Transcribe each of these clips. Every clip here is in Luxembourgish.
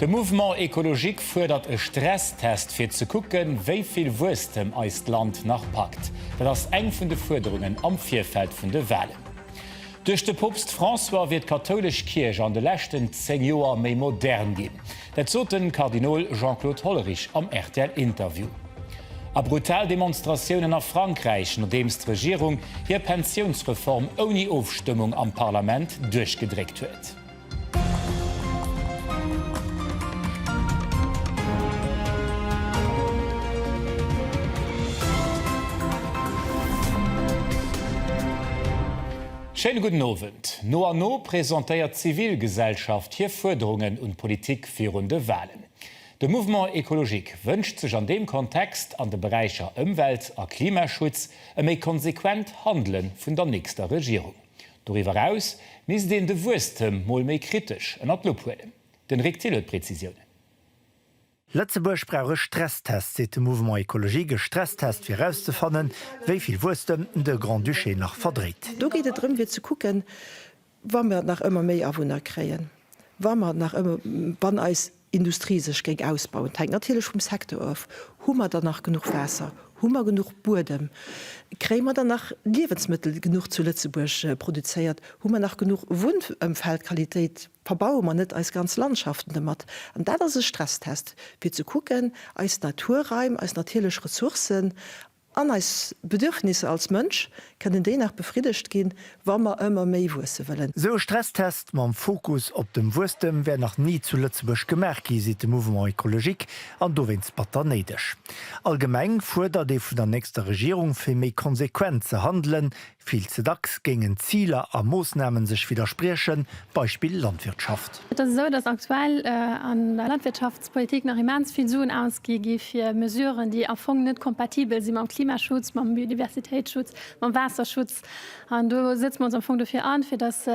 De Mouvement Ecologique fuerdert e Stresstest fir ze kucken, wéi vill Wuesstem eist Land nach packt. Dat ass eng vun de Fuerderungen am Virfeld vun de Walen. Duerch de Poopst François wier d'kathoulesch Kierch an de leschten 10 Joer méi modern ginn. Dat sot de Kardinol Jean-Claude Hollerich am rtl Interview. A brutal Demonstratiounen a Frankräich, nodeems d'Regierung hir Pensiounsreform ouni Ofstëmmung am Parlament duerchgedréckt huet. Schéine gudden Owend. No an no presentéiert d'Zivilgesellschaft hir Fuerderungen un d'Politik virun de Walen. De Mouvement Ecologique wënscht sech an deem Kontext an de Beräicher Ëmwelt a Klimaschutz e méi konsequent Handele vun der nächster Regierung. Doriwwer eraus misst een de Wuesstem mol méi kritesch ënnert d'Lupp huelen. Den Rik Thill huet Prezisiounen. Lëtzebuerg brauch e Stresstest, seet de Mouvement Ecologique, e Stresstest fir erauszefannen, wéi vill Wuesstem de Grand-Duché nach verdréit. Do geet et drëm fir ze kucken, wa mer nach ëmmer méi Awunner kréien, wa mer nach ëmmer, wann eis. Industrie sech géing ausbauen. Et hänkt natierlech vum Secteur of. Hu mer dann nach genuch Waasser? Hu mer genuch Buedem? Kréie mer dann nach Liewensmëttel genuch zu Lëtzebuerg produzéiert? Hu mer nach genuch Wunnëmfeldqualitéit? Verbaue mer net eis ganz Landschaften domat? An dat ass e Stresstest, fir ze kucken, eis Naturraim, eis natierlech Ressourcen, An eis Bedürfnisser als Mënsch kënnen déi nach befriddegt ginn, wa mer ëmmer méi wuesse wëllen. Esou e Stresstest mam Fokus op dem Wuesstem wär nach ni zu Lëtzebuerg gemaach gi, seet de Mouvement Ecologique, an dowéinst batter néideg. Allgemeng fuerdert ee vun der nächster Regierung, fir méi konsequent ze handelen, Vill ze dacks géingen d'Ziler a Moossnamen sech widderspriechen, Beispill Landwirtschaft. Et ass esou, datt aktuell an der Landwirtschaftspolitik nach immens vill Suen ausgi gi fir Mesuren, déi am Fong net kompatibel si mam Klimaschutz, mam Biodiversitéitsschutz, mam Waasserschutz. An do setze mer ons am Fong dofir an, fir datt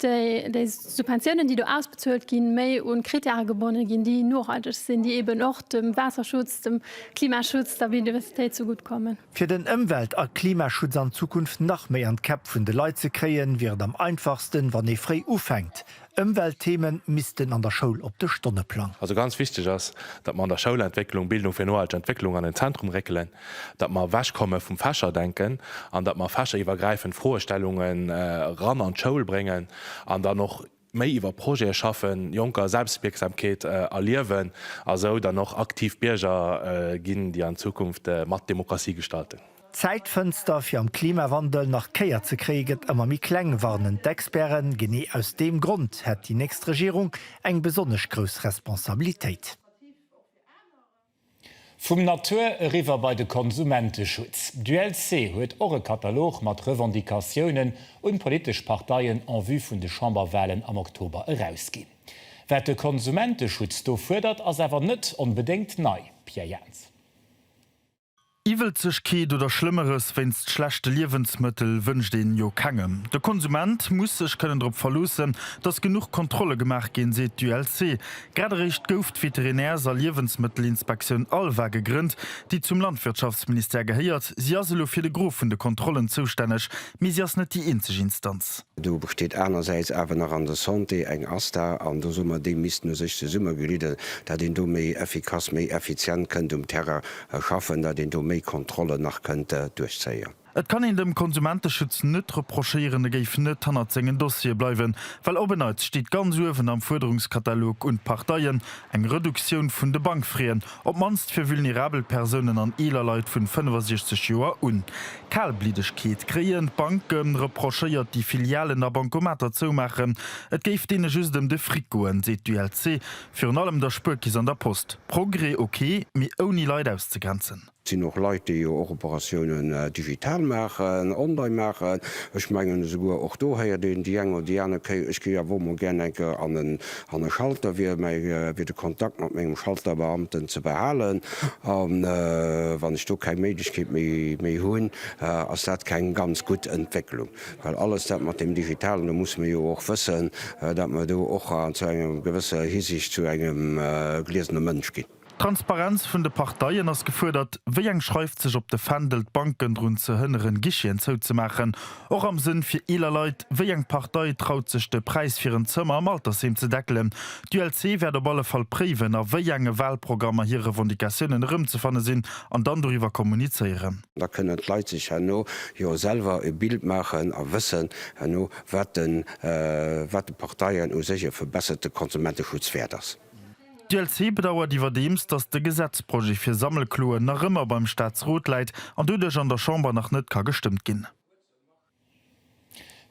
déi Subventiounen, déi do ausbezuelt ginn, méi un Kritäre gebonnen ginn, déi nohalteg sinn, déi eeben och dem Waasserschutz, dem Klimaschutz, der Biodiversitéit zegutt kommen. Fir den Ëmwelt a Klimaschutz an Zukunft nach méi an d'Käpp vun de Leit ze kréien, wier et am einfachsten, wann ee fréi ufänkt. Ëmweltthemen missten an der Schoul op de Stonneplang. Also ganz wichteg ass, datt mer an der Schoul Entwécklung, Bildung fir nohalteg Entwécklung an den Zentrum réckelen, datt mer ewechkomme vum Fächerdenken an datt mer fächeriwwergräifend Froestellungen eran an d'Schoul bréngen an dann och, méi iwwer Projete schaffen, Jonker Selbstwierksamkeet erliewen a sou dann och aktiv Bierger ginn, déi an Zukunft mat Demokratie gestalten. D'Zäitfënster fir am Klimawandel nach Kéier ze kréie gëtt ëmmer méi kleng, warnen d'Experten. Genee aus deem Grond hätt déi nächst Regierung eng besonnesch grouss Responsabilitéit. Vum Natur eriwwer bei de Konsumenteschutz. D'ULC huet och e Katalog mat Revendicatiounen un d'politesch Parteien en vue vun de Chamberwalen am Oktober erausginn. Wat de Konsumenteschutz do fuerdert, ass awer net onbedéngt nei, Pierre Jaentz. Iwwelzegkeet oder Schlëmmeres wéinst schlechte Liewensmëttel wënscht een jo kengem. De Konsument muss sech kënnen drop verloossen, datt genuch Kontrolle gemaach ginn, seet d'ULC. Grad eréischt gouf d'Veterinärs a Liewensmëttelinspektioun ALVA gegrënnt, déi zum Landwirtschaftsministère gehéiert. Si ass elo fir de Gros vun de Kontrollen zoustänneg, mee si ass net déi eenzeg Instanz. Do besteet anersäits awer nach an der Santé eng ASTA an do soe mer, déi misst no sech zesummegeliddel, datt een do méi effikass, méi effizient kënnt um Terrain schaffen, datt een do méi Kontrollen nach kënnt duerchzéien. Et kann een dem Konsumenteschutz net reprochéieren, e géif net hannert sengen Dossiere bleiwen, well op en Neits steet ganz uewen am Fuerderungskatalog un d'Parteien eng Reduktioun vun de Bankfraien, op d'mannst fir vulnerabel Persounen an eeler Leit vun 65 Joer un. Kalbliddegkeet kréien d'Banke reprochéiert, déi Filialen a Bancomater zoumaachen, et géif deene just ëm de Fric goen, seet d'ULC. Virun allem der Spuerkeess an der Post. Progrès ok, mee ouni Leit auszegrenzen. Et sinn och Leit, déi jo och Operatiounen digital maachen, online maachen. Ech mengen, esouguer och do héiert een déi eng oder déi aner Kéier, Ech géif awer emol gär eng Kéier an e Schalter, wier mäi Wee de Kontakt mat mengem Schalterbeamten ze behalen. A wann ech do keng Méiglechkeet méi hunn, ass dat keng ganz gutt Entwécklung. Well alles dat mat deem Digitalen, do musse mir jo och wëssen, datt mer do och zu enger gewësser Hisiicht zu engem gliesene Mënsch ginn. D'Transparenz vun de Parteien ass gefuerdert, wéi eng schreift sech op de Fändel, d'Banken drun ze hënneren, Guicheten zouzemaachen, och am Sënn fir eeler Leit, wéi eng Partei traut sech de Präis fir en Zëmmer am Altersheem ze deckelen. D'ULC wäert op alle Fall préiwen, a wéi enge Walprogrammer hir Revendicatiounen erëmzefanne sinn, an dann doriwwer kommunizéieren. Da kënnen d'Leit sech herno jo selwer e Bild maachen a wëssen herno, wat de wat de Parteien u sech e verbesserte Konsumenteschutz wäert ass. D'ULC bedauert iwwerdeems, datt de Gesetzprojet fir Sammelkloen nach ëmmer beim Staatsrot läit an doduerch an der Chamber nach net ka gestëmmt ginn.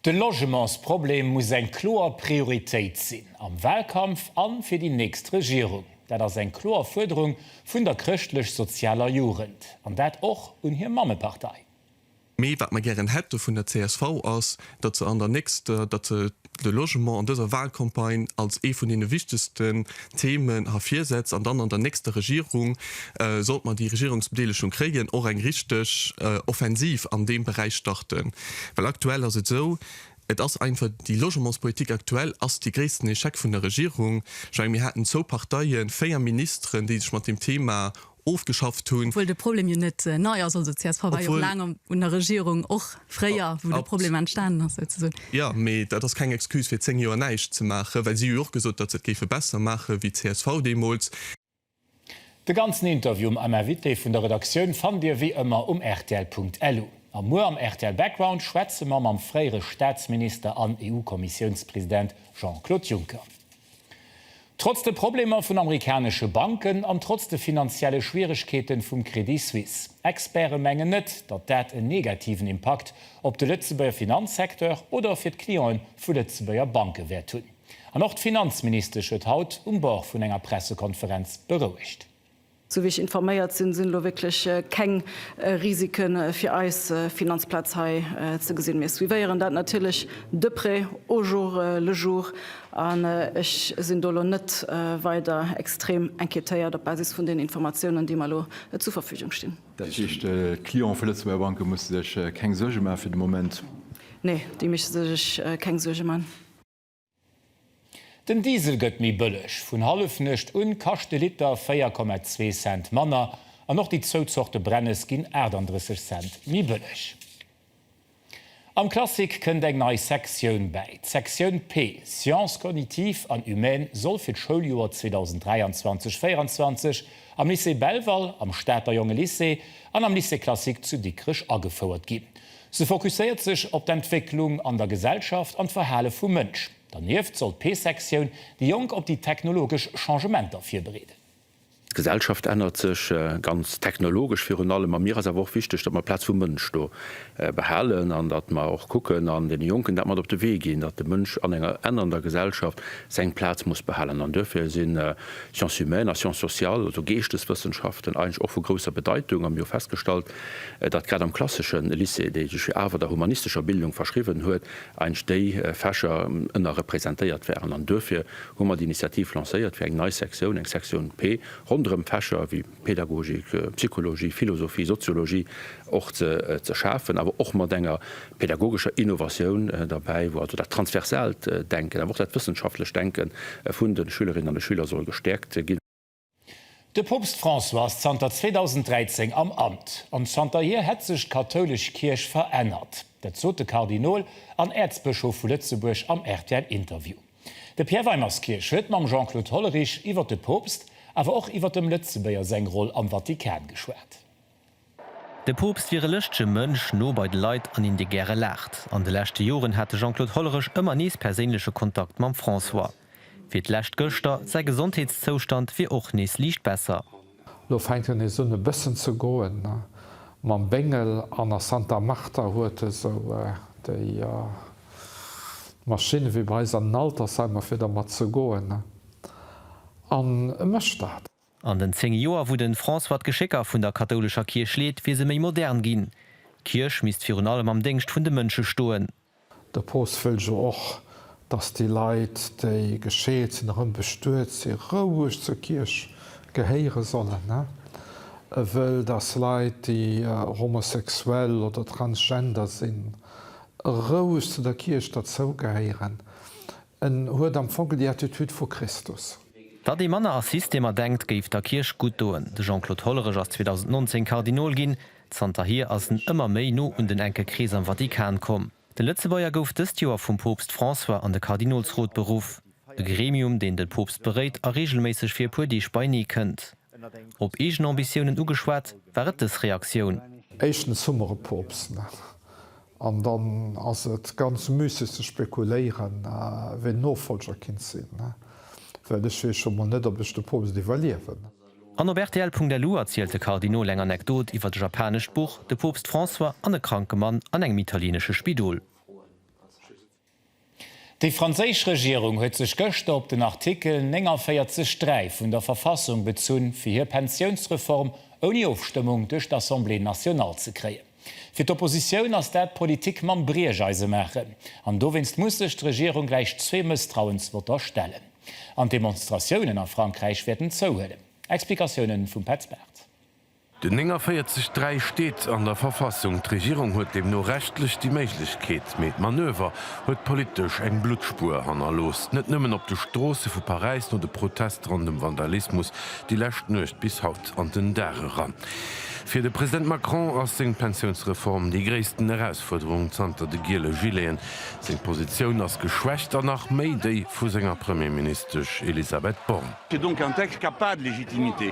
De Logementsproblem muss eng kloer Prioritéit sinn am Wahlkampf a fir déi nächst Regierung. Dat ass eng kloer Fuerderung vun der chrëschtlech-sozialer Jugend, an dat och un hir Mammepartei. Mee wat mer gären hätte vun der csv ass, datt se an der nächster, datt se de Logement an dëser Wahlcampagne als ee vun deene wichtegsten Themen ervirsetzt an dann an der nächster Regierung, sollt mer déi Regierungsbedeelegung kréien, och eng richteg Offensiv an deem Beräich starten. Well aktuell ass et esou, et ass einfach, déi Logementspolitik aktuell ass dee gréissten Échec vun der Regierung. Ech menge mir haten zwou Parteien, véier Ministeren, déi sech mat deem Thema ofgeschafft hunn. Obwuel de Problem jo net nei ass. Also d'CSV war jo och laang un der Regierung, och fréier, wou de Problem entstanen ass souzesoen. Jo, mee dat ass keng Excuse fir zéng Joer näischt ze maachen, well si hu jo och gesot, datt se et géife besser maache wéi csv deemools. De ganzen Interview mam Invité vun der Redaktioun fannt Dir wéi ëmmer um rtl.lu. A muer am rtl Background schwätze mer mam fréiere Staatsminister an EU-Kommissiounspresident Jean-Claude Juncker. Trotz de Problemer vun amerikanesche Banken an trotz de finanzielle Schwieregkeete vum Crédit Suisse. Experte mengen net, datt dat en negativen Impakt op de Lëtzebuerger Finanzsecteur oder fir d'Cliente vu Lëtzebuerger Banke wäert hunn. An och d'Finanzministesch huet haut um Bord vun enger Pressekonferenz berouegt. Sou wéi ech informéiert sinn, sinn elo wierklech keng Risike fir eis Finanzplaz hei ze gesinn. Mir suivéieren dat natierlech de près, au jour le jour, an ech sinn do elo net weider extrem inquiétéiert op Basis vun den Informatiounen, déi mer elo zur Verfügung stinn. Dat heescht, d'Clientë vu Lëtzebuerger Banke musse sech keng Suerge maachen fir de Moment? Nee, déi misste sech keng Suerge maachen. Den Diesel gëtt méi bëlleg. Vun Hallefnuecht un kascht de Liter 4,2 Cent manner an och déi zwou Zorte Brennes ginn 38 Cent méi bëlleg. Am Classic kënnt eng nei Sektioun bäi. D'Sektioun P, Sciences cognitives an humaines soll fir d'Schouljoer 2023, 24 am Lycée Belval, am Stater Jongelycée an am Lycée classique zu Dikrech agefouert ginn. Se fokusséiert sech op d'Entwécklung an der Gesellschaft an d'Verhale vum Mënsch. Dernieft soll d'P-Sektioun déi Jonk op déi technologesch Changementer virbereeden. D'Gesellschaft ännert sech, ganz technologesch virun allem, a mir ass awer och wichteg, datt mer d'Plaz vum Mënsch do behalen an datt mer och kucken an deene Jonken dat mat op de Wee ginn, datt de Mënsch an enger ännernder Gesellschaft seng Plaz muss behalen. An duerfir si Sciences humaines a Sciences sociales, also Geeschteswëssenschaften, eigentlech och vu grousser Bedeitung a mir hu festgestallt, datt grad am klassesche Lycée, dee sech jo awer der humanistescher Bildung verschriwwen huet, eigentlech déi Fächer ënnerrepresentéiert waren. An duerfir hu mer d'Initiativ lancéiert fir eng nei Sektioun, eng Sektioun P, ronderëm Fächer wéi Pädagogik, Psychologie, Philosophie, Soziologie och ze schafen, awer och mat enger pädagogescher Innovatioun derbäi, wou also dat transversaalt Denken, awer och dat wëssenschaftlecht Denke vun de Schülerinnen an de Schüler soll gestäerkt ginn. De Poopst François ass zanter 2013 am Amt, an zanterhier hätt sech d'kathoulesch Kierch verännert. Dat sot de Kardinol an Äerzbëschof vu Lëtzebuerg am rtl Interview. De Pierre Weimerskirch huet mam Jean-Claude Hollerich iwwer de Poopst, awer och iwwer dem Lëtzebuerger seng Roll am Vatikan geschwat. De Poopst wier e lëschtege Mënsch, no bei de Leit an een, dee gäre laacht. An de leschte Joren hat de Jean-Claude Hollerich ëmmer nees perséinleche Kontakt mam François. Fir d'lescht gëschter, säi Gesondheetszoustand wier och nees liicht besser. Lo fänkt en esou un e bëssen ze goen. Mam Béngel an a Santa Marta huet e sou déi Maschinne wéi bei eis an den Altersheimer, fir dermat ze goen. An e mécht dat. An den zéng Joer, wou de François d'Geschécker vun der kathoulescher Kierch leet, wier se méi modern ginn. D'Kierch misst virun allem am Déngscht vun de Mënsche stoen. De Poopst wëll jo och, datt déi Leit, déi gescheet sinn, erëm bestuet si roueg zur Kierch gehéiere sollen. E wëll, datt Leit, déi homosexuell oder transgender sinn, roueg zu der Kierch derzougehéieren. En huet am Fong déi Attitude vu Christus. Datt ee manner a Systemer denkt, géif der Kierch gutt doen. De Jean-Claude Hollerich ass 2019 Kardinol ginn. Zanterhier ass en ëmmer méi no un den enke Krees am Vatikan komm. De Lëtzebuerger gouf dëst Joer vum Poopst François an de Kardinolsrot beruff, e Gremium, deen de Poopst beréit a reegelméisseg fir e puer Deeg beineekënnt. Op eegen Ambitiounen ugeschwat, war et dës Reaktioun. Éischtens hu mer e Poopst net. An dann ass et ganz müsseg ze spekuléieren, wien Nofollger kinnt sinn, well ech weess scho mol net, ob ech de Poopst iwwerliewen. An op rtl.lu erzielt de Kardinol eng Anekdot iwwert e japanescht Buch, de Poopst François an e kranke Mann an engem italienesche Spidol. Déi franséisch Regierung huet sech gëschter op den Artikel 49 3 vun der Verfassung bezunn, fir hir Pensiounsreform ouni Ofstëmmung duerch d'Assemblée nationale ze kréien. Fir d'Oppositioun ass dat Politik mam Briecheise maachen. An dowéinst muss sech d'Regierung gläich zwee Mësstrauensvotter stellen. An d'Demonstratiounen a Frankräich wäerten zouhuelen. Explikatiounen vum Petz Barth. Den 49 3 steet an der Verfassung. D'Regierung huet deemno rechtlech déi Méiglechkeet. Mee d'Manöver huet politesch eng Bluttspuer hannerlooss, net nëmmen op de Stroosse vu Paräis no de Protest ronn dem Vandalismus déi lescht Nuecht bis haut an den Dag eran. Fir de President Macron ass seng Pensiounsreform déi gréissten Erausfuerderung zanter de giele Gileten. Seng Positioun ass geschwächt an nach méi déi vu senger Premierministesch Elisabeth Borne. C'est donc un texte qui a pas de légitimité.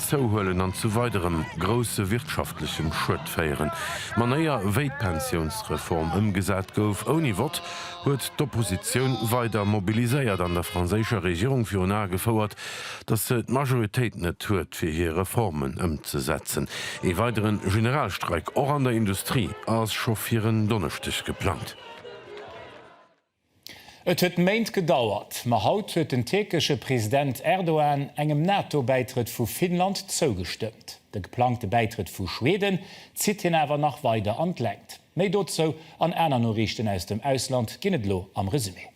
zouhuelen an zu weiderem grousse wirtschaftlechem Schued féieren. D'Manéier, wéi d'Pensiounsreform ëmgesat gouf, ouni Vott, huet d'Oppositioun weider mobiliséiert an der franséischer Regierung virun Ae gefouert, datt se d'Majoritéit net huet, fir hir Reformen ëmzesetzen. Ee weidere Generalstreik, och an der Industrie, ass scho fir en Donneschdeg geplangt. Et huet Méint gedauert, ma haut huet den tierkesche President Erdogan engem NATO-Bäitrëtt vu Finnland zougestëmmt. De geplangte Bäitrëtt vu Schweden zitt hien awer nach weider an d'Längt. Méi dozou an aner Noriichten aus dem Ausland ginn et elo am Resumé.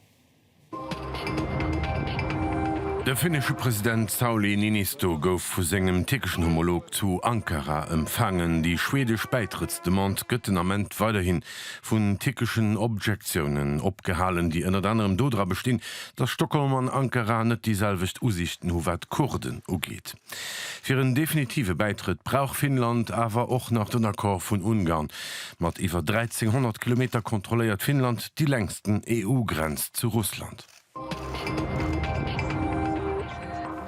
De finnesche President Sauli Niinisto gouf vu sengem tierkeschen Homolog zu Ankara empfaangen. Déi schwedesch Bäitrëttsdemande gëtt den Ament weiderhin vun tierkeschen Objektiounen opgehalen, déi ënnert anerem dodra bestinn, datt Stockholm an Ankara net déi selwecht Usiichten hu wat d'Kurden ugeet. Fir en definitive Bäitrëtt brauch Finnland awer och nach den Accord vun Ungarn. Mat iwwer 1.300 Kilometer kontrolléiert Finnland déi längsten EU-Grenz zu Russland.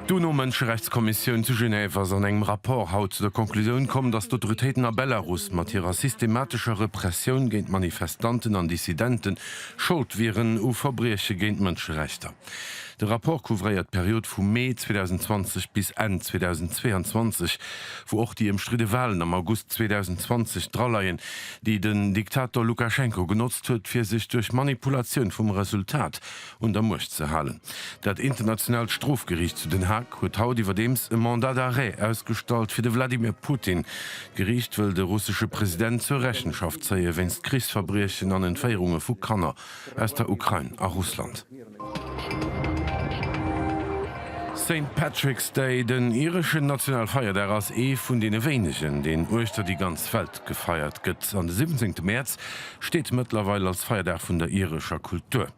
D'UNO-Mënscherechtskommissioun zu Genève ass an engem Rapport haut zu der Conclusioun komm, datt d'Autoritéiten a Belarus mat hirer systematescher Repressioun géint Manifestanten an Dissidente Schold wieren u Verbrieche géint d'Mënscherechter. De Rapport couvréiert d'Period vu Mee 2020 bis Enn 2022, wou och déi ëmstridde Walen am August 2020 draleien, déi den Diktator Lukaschenko genotzt huet, fir sech duerch Manipulatioun vum Resultat un der Muecht ze halen. Dat Internationaalt Strofgeriicht zu Den Haag huet haut iwwerdeems e Mandat d'arrêt ausgestallt fir de Wladimir Putin. D'Geriicht wëll de russesche President zur Rechenschaft zéie wéinst Krichsverbriechen an Entféierunge vu Kanner aus der Ukrain a Russland. Saint Patrick's Day, den ireschen Nationalfeierdag, ass ee vun deene wéinegen, deen uechter déi ganz Welt gefeiert gëtt. An de siwwenzéngte Mäerz steet mëttlerweil als Feierdag vun der irescher Kultur.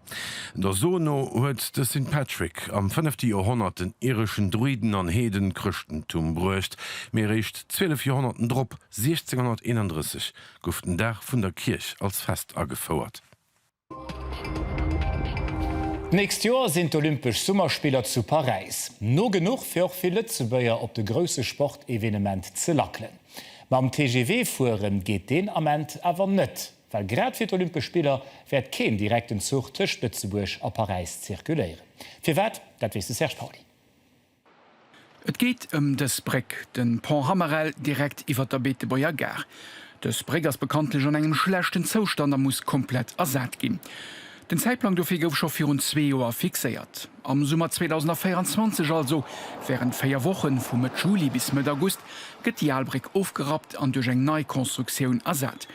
Der So no huet de Saint Patrick am fënnefte Joerhonnert den ireschen Druiden an Heeden d'Chrëschtentum bruecht, mee eréischt zwielef Joerhonnerten drop, 1631, gouf den Dag vun der Kierch als Fest agefouert. D'nächst Joer sinn d'Olympesch Summerspiller zu Paräis. No genuch fir och vill Lëtzebuerger op de grousse Sportevenement ze lackelen. Mam TGV fuere geet deen Ament awer net, well grad fir d'Olympesch Spiller wäert keen direkten Zuch tëscht Lëtzebuerg a Paräis zirkuléieren. Firwat, dat weess de Serge Pauly. Et geet ëm dës Bréck, de Pont Hammerel, direkt iwwer der Beetebuerger Gare. Dës Bréck ass bekanntlech an engem schlechten Zoustand a muss komplett ersat ginn. Den Zäitplang dofir gouf scho virun zwee Joer fixéiert, am Summer 2024, also wärend véier Wochen, vu Mëtt Juli bis Mëtt August, gëtt déi al Bréck ofgerappt an duerch eng nei Constructioun ersat.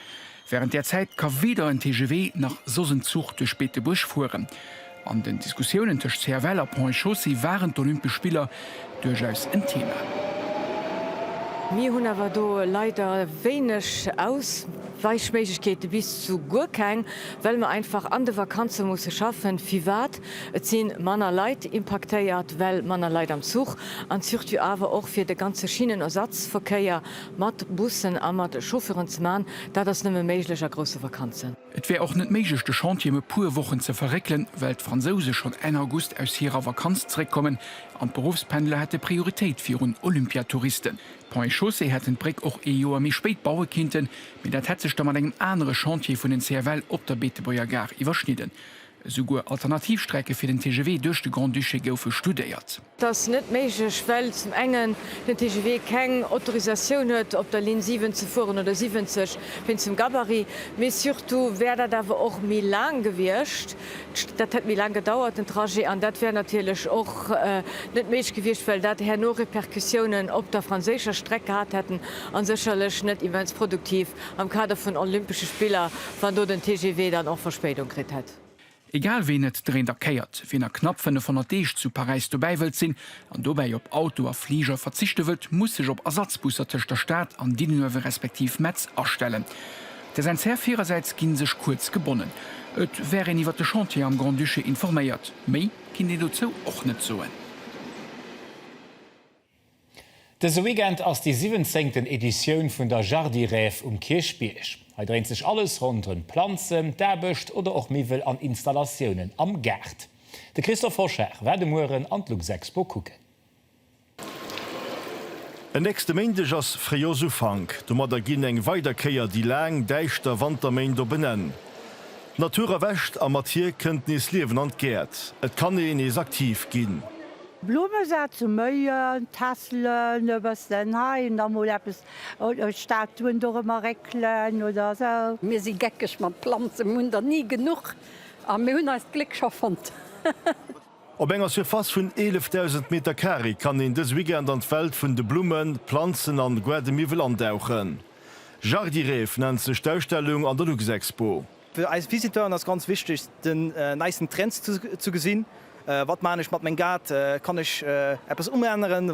Wärend där Zäit ka weder en TGV nach soss en Zuch duerch Beetebuerg fueren. An den Diskussiounen tëscht CFL a Ponts et Chaussées waren d'Olympesch Spiller duerchaus en Thema. Mir hunn awer do leider wéineg Ausweichméiglechkeeten, bis zu guer keng, well mer einfach an de Vakanze musse schaffen. Firwat? Et si manner Leit impaktéiert, well manner Leit am Zuch an surtout awer och fir de ganze Schinnenersatzverkéier Mat Bussen a mat Chauffeuren ze man, dat ass nëmme méiglech a grousse Vakanzen. Et wär och net méiglech de Chantier em e puer Wochen ze verréckelen, well d'Fransouse schonn Enn August aus hirer Vakanz zeréckkommen an d'Beruffspendler hätte Prioritéit virun Olympiatouristen. D'Ponts et Chaussées hätten d'Bréck och ee Joer méi spéit baue kinnten, mee dat hätt sech da mat engem anere Chantier vun den CFL op der Beetebuerger Gare iwwerschnidden, Esouguer alternativ Strecke fir den TGV duerch de Grand-Duché goufe studéiert. Dat ass net méiglech, well zum engen den TGV keng Autorisatioun huet, op der Linn 7 ze fueren, oder 70, wéinst dem Gabarit. Mee surtout wär dat awer och méi laang gewiescht, dat hätt méi laang gedauert, den Trajet. An dat wär natierlech och net méiglech gewiescht, well dat herno Repercussiounen op der franséischer Streck gehat hätten a sécherlech net immens produktiv Am Kader vun Olympesche Spiller, wann do den TGV dann och Verspéidung kritt hätt. Egal ween et dréint a kéiert, ween a knapp 500 Deeg zu Paräis dobäi wëllt sinn an dobäi op Auto a Fliger verzichte wëllt, muss sech op Ersatzbusser tëscht der Stad an Diddenoewe respektiv Metz astellen. Der säin Zär virersäits ginn sech kuerz gebonnen. Et wär een iwwer de Chantier am Grand-Duché informéiert, méi kinnt een dozou och net soen. Dëse Weekend ass déi siwwenzéngten Editioun vun der Jardirêve um Kierchbierg. Hei dréint sech alles ronderëm d'Planzen, d'Aarbecht oder och Miwwel an Installatiounen am Gaart. De Christophe Hoschar war de Mueren an d'Luxexpo kucken. En nächste Méindeg ass Fréijoersufank. Domadder ginn eng weider Kéier déi laang, däischter Wanterméint op en Enn. D'Natur erwächt a mat hir kënnt nees Liewen an d'Gäert. Et kann ee nees aktiv ginn. Blumme sat zu méien, Tässelen e bëssen hei an da mol eppes, Statuen dorëmmer réckelen oder sou. Mir si geckeg mat Planzen, mir hunn der ni genuch a mir hunn eist Gléck scho fonnt. Op enger Surface vun 11.000 Meter Carré kann een dës Weekend an d'Welt vun de Blummen, Planzen an Guardemiwwel andauchen. Jardirêve nennt sech d'Ausstellung an der Luxexpo. Fir eis Visiteuren ass ganz wichteg den neisten Trends ze gesinn, wat maachen ech mat meng Gaart, kann ech eppes umänneren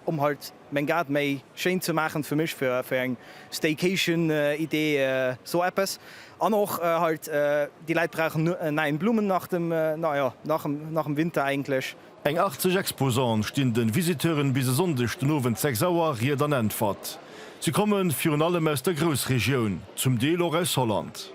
om halt meng Gaart méi schéin ze maachen fir mech, fir eng Staycation Idee sou eppes. An och halt déi Läit brauchen en neien Blumenarten nach em Winter eigentlech. Eng 80 Exposante stinn de Visiteuren bis e Sonndeg den Owend 6 Auer Ried an Äntwert. Si komme virun allem aus der Groussregioun, zum Deel och aus Holland.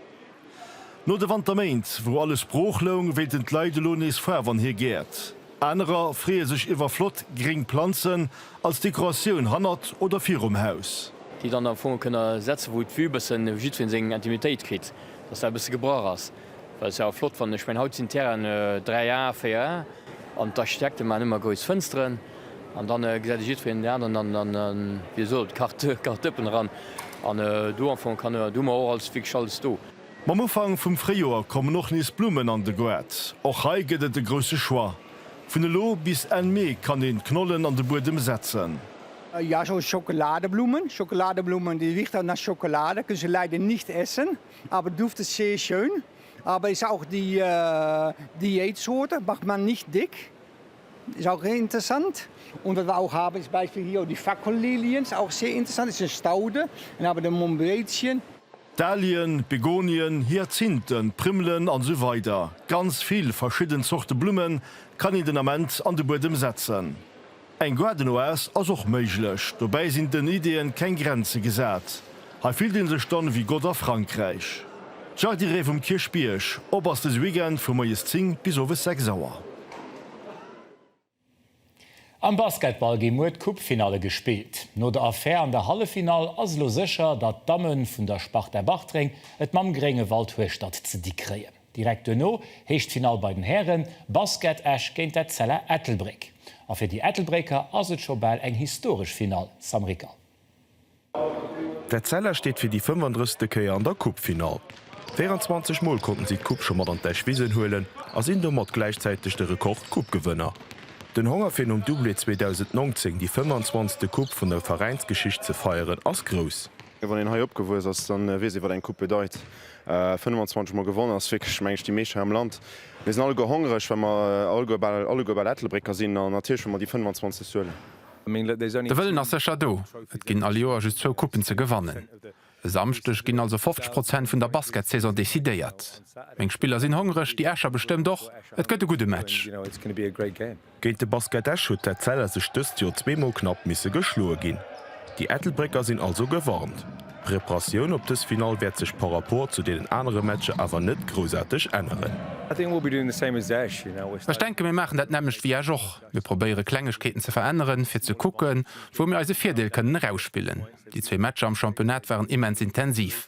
No de Wanterméint, wou alles brooch loung, wéilten d'Leit elo nees Faarf an hir Gäert. Anerer freeë sech iwwer flott gréng Planzen als Dekoratioun hannert oder virum Haus. Déi dann am Fong kënne setze wou d'Vue bëssen jiddween seng Intimitéit kritt, dass dat e bësse gebrach ass. Well ass awer flott wann, ech mengen haut sinn d'Terrainen 3 A, 4 A an d'Architekte maachen ëmmer grouss Fënsteren an dann gesäit e jiddwereen deen aneren an dann wéi soll et Karte Karte Dëppen eran an do am Fong kann hu mer och alles wierklech alles do. Mam Ufank vum Fréijoer kommen och nees Blummen an de Goart. Och hei gëtt et e grousse Choix. Vun elo bis Enn Mee kann een d'Knollen an de Buedem setzen. Jo, Schokoladeblummen, Schokoladeblummen, die Wichternasschokolade kënns du leider nicht essen. Aber du duftest sehr schön, aber ist auch die Diätsorte, macht man nicht dick, ist auch interessant. Und was wir auch haben ist Beispiel hier die Fackelilien, ist auch sehr interessant, ist eine Staude. Dann haben wir den Mombretien. Dahlien, Begonien, Hyazinthen, Primmelen an esou weider Ganz vill verschidden Zorte Blummen kann een den Ament an de Buedem setzen. Eng Garden-Oase ass och méiglech, dobäi sinn den Ideeën keng Grenze gesat. Hei fillt een sech dann ewéi Gott a Frankräich. D'Jardirée vum Kierchbierg, op ass dëse Weekend vu moies 10 bis owes 6 Auer. Am Basketball gi muer d'Coupe-Finalle gespillt. No der Affär an der Halleffinall ass elo sécher, datt d'Damme vun der Sparta Bartreng et mam Gréngewald Hueschtert ze di kréien. Direkt duerno heescht d'Finall bei den Hären, Basket Esch géint d'Etzella Ettelbréck. A fir déi Ettelbrécker ass et scho bal eng historesch Finall, Sam Rickal. D'Etzella steet fir déi 35. Kéier an der Coupe-Finall. 24 Mol konnten si d'Coupe scho mat an d'Esch Wisen huelen a sinn domat gläichzäiteg de Rekord-Coupe-Gewënner. Den Honger fir nom Doublé 2019 déi 25. Coupe vun der Veräinsgeschicht ze feieren ass grouss. Wann een hei opgewuess ass, da weess ee wat eng Coupe bedeit. 25 mol gewonnen ass wierklech, meng ech, déi meescht hei am Land. Mir sinn alleguer hongreg, well mer alleguer, bal alleguer, bal Ettelbrécker sinn an natierlech wëll mer déi 25 huelen. De Wëllen ass sécher do. Et ginn all Joer just zwou Coupen ze gewannen. E Samschdeg ginn also 50 Prozent vun der Basketsaison decidéiert. Meng Spiller sinn hongreg, déi Escher bestëmmt och. Et gëtt e gudde Match. Géint de Basket Esch huet d'Etzella sech dëst Joer zweemol knapp misse geschloe ginn. Déi Ettelbrécker sinn also gewarnt. D'Preparatioun op dës Finall wäert sech par rapport zu deenen anere Matcher awer net groussarteg änneren. Ech denke mir maachen dat nämmlecht wéi Esch och. Mir probéiere Klengegkeeten ze veränneren, fir ze kucken, wou mir eise Virdeel kënnen erausspillen. Déi zwee Matcher am Championnat waren immens intensiv.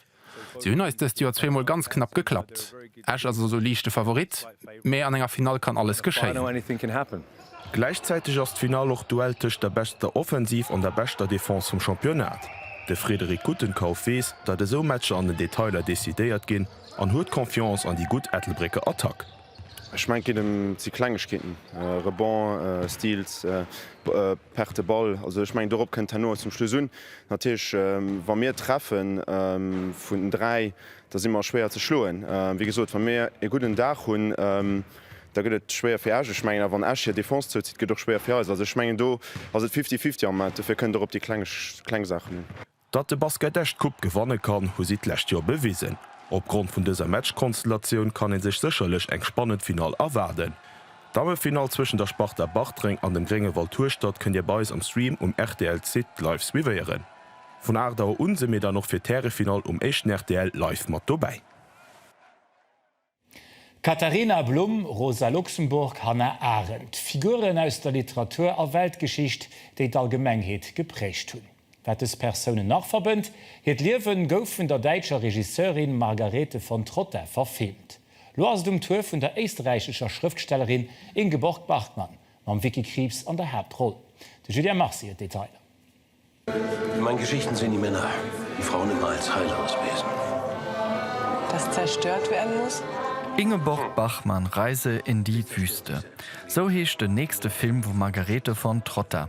Si hunn eis dëst Joer zweemol ganz knapp geklappt. Esch ass also liichte Favorit, mee an enger Finall kann alles geschéien. Gläichzäiteg ass d'Finall och d'Duell tëscht der beschter Offensiv an der beschter Defense vum Championnat. De Frédéric Guttenkauf weess, datt esou Matcher an den Detailer decidéiert ginn an huet Confiance an déi gutt Ettelbrécker Attack. Ech mengen et geet em ze Klengegkeeten, Rebond, Steals, Perte de Ball. Also ech mengen dorop kënnt herno zum Schluss un. Natierlech wa mir treffe vun dräi, da si mer schwéier ze schloen. Wéi gesot, wa mir ee gudden Dag hunn, da gëtt et schwéier fir Esch. Ech mengen awer wann Esch hir Defense zouzitt, gëtt et och schwéier fir eis. Also ech mengen do ass et fifty-fifty am Moment. Dofir kënnt et och op déi kleng Saachen un. Datt de Basket Esch d'Coupe gewanne kann, hu si d'lescht Joer bewisen. Opgrond vun dëser Matchkonstellatioun kann ee sech sécherlech eng spannend Finall erwaarden. D'Dammefinall zwëschen der Sparta Bartreng an dem Gréngewald Hueschtert kënnt Dir bei eis am Stream um rtl Site live suivéieren. Vun 8 Auer un si mir dann och fir d'Härefinall um éischten rtl live mat dobäi. Katharina Blum, Rosa Luxemburg, Hannah Arendt, Figuren aus der Literatur a Weltgeschicht, déi d'Allgemengheet geprägt hunn. Wat dës Persounen nach verbënnt, hiert Liewe gouf vun der däitscher Regisseurin Margarete von Trotta verfilmt. Lo ass et um Tour vun der éisterräichescher Schrëftstellerin Ingeborg Bachmann, mam Vicky Krieps an der Haaptroll. De Julien Marcy huet d'Detailer. In meinen Geschichten sehen die Männer die Frauen immer als heillos Wesen. Das zerstört werden muss. Ingeborg Bachmann, Reise in die Wüste, sou heescht den nächste Film vum Margarete von Trotta.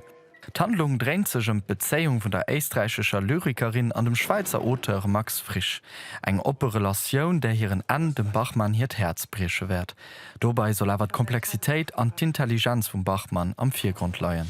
D'Handlung dréint sech ëm d'Bezéiung vun der éisträichescher Lyrikerin an dem Schwäizer Auteur Max Frisch, eng oppe Relatioun, där hiren Enn dem Bachmann hiert Häerz brieche wäert. Dobei soll awer d'Komplexitéit an d'Intelligenz vum Bachmann am Virgrond leien.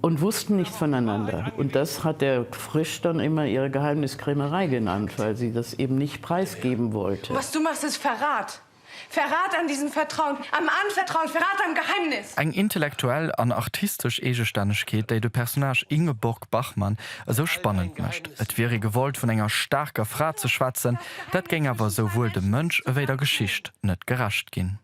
und wussten nichts voneinander und das hat der Frisch dann immer ihre Geheimniskrämerei genannt, weil sie das eben nicht preisgeben wollte. Was du machst ist Verrat! Verrat an diesem Vertrauen, am Anvertrauen, Verrat am Geheimnis! Eng intellektuell an artistesch Eegestännegkeet, déi de Personnage Ingeborg Bachmann esou spannend mécht. Et wier ee gewollt, vun enger staarker Fra ze schwätzen, dat géing awer esouwuel dem Mënsch ewéi der Geschicht net gerecht ginn.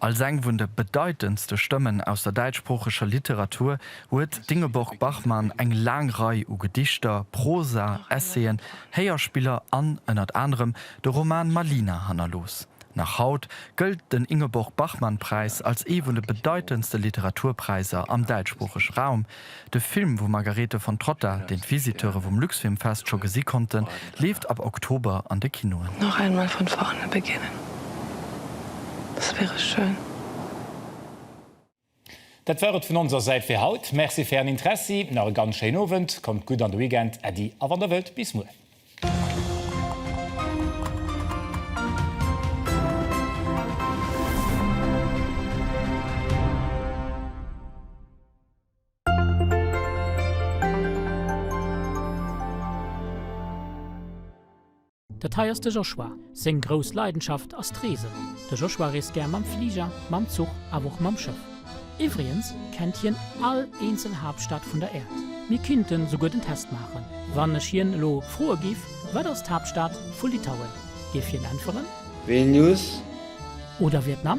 Als eng vun de bedeitendste Stëmmen aus der däitschsproocheger Literatur huet d'Ingeborg Bachmann eng laang Rei u Gedichter, Prosa, Essayen, Héierspiller an, ënnert anerem, de Roman Malina hannerlooss. Nach haut gëllt den Ingeborg-Bachmann-Präis als ee vun de bedeitendste Literaturpräiser am däitschsproochege Raum, De Film vum Margarete von Trotta, deen d'Visiteure vum Luxfilmfest scho gesi konnten, leeft ab Oktober an de Kinoen. Noch einmal von vorne beginnen, das wäre schön. Dat war et vun onser Säit fir haut. Merci fir ären Interessi. Nach e ganz schéinen Owend. Kommt gutt an de Weekend. Äddi a wann der wëllt, bis muer. Dat hei ass de Joshua. Seng grouss Leidenschaft ass d'Reesen. De Joshua reest gär mam Fliger, mam Zuch awer och mam Schëff. Iwwriens kennt hien all eenzel Haaptstad vun der Äerd. Mir kinnten souguer den Test maachen. Wann ech hien elo froe giff, Wat ass d'Haaptstad vu Litauen? Giff hien äntweren. Vilnius. Oder Vietnam?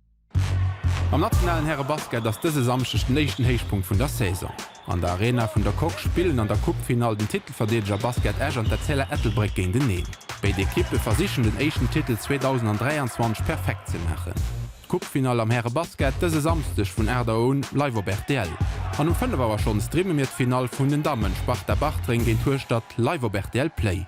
Am nationalen Härebasket ass dëse Samschdeg den éischten Héichpunkt vun der Saison. An der Arena vun der Coque spillen an der Coupe-Finall den Titelverdeedeger Basket Esch an d'Etzella Ettelbréck géinteneen. Béid Ekippe versichen den éischten Titel 2023 perfekt ze maachen. D'Coupe-Finall am Härebasket dëse Samsdeg vun 8 Auer un live op rtl. An um 5 Auer schonn streame mir d'Finall vun den Dammen, Sparta Bartreng géint Hueschtert, live op rtl Play.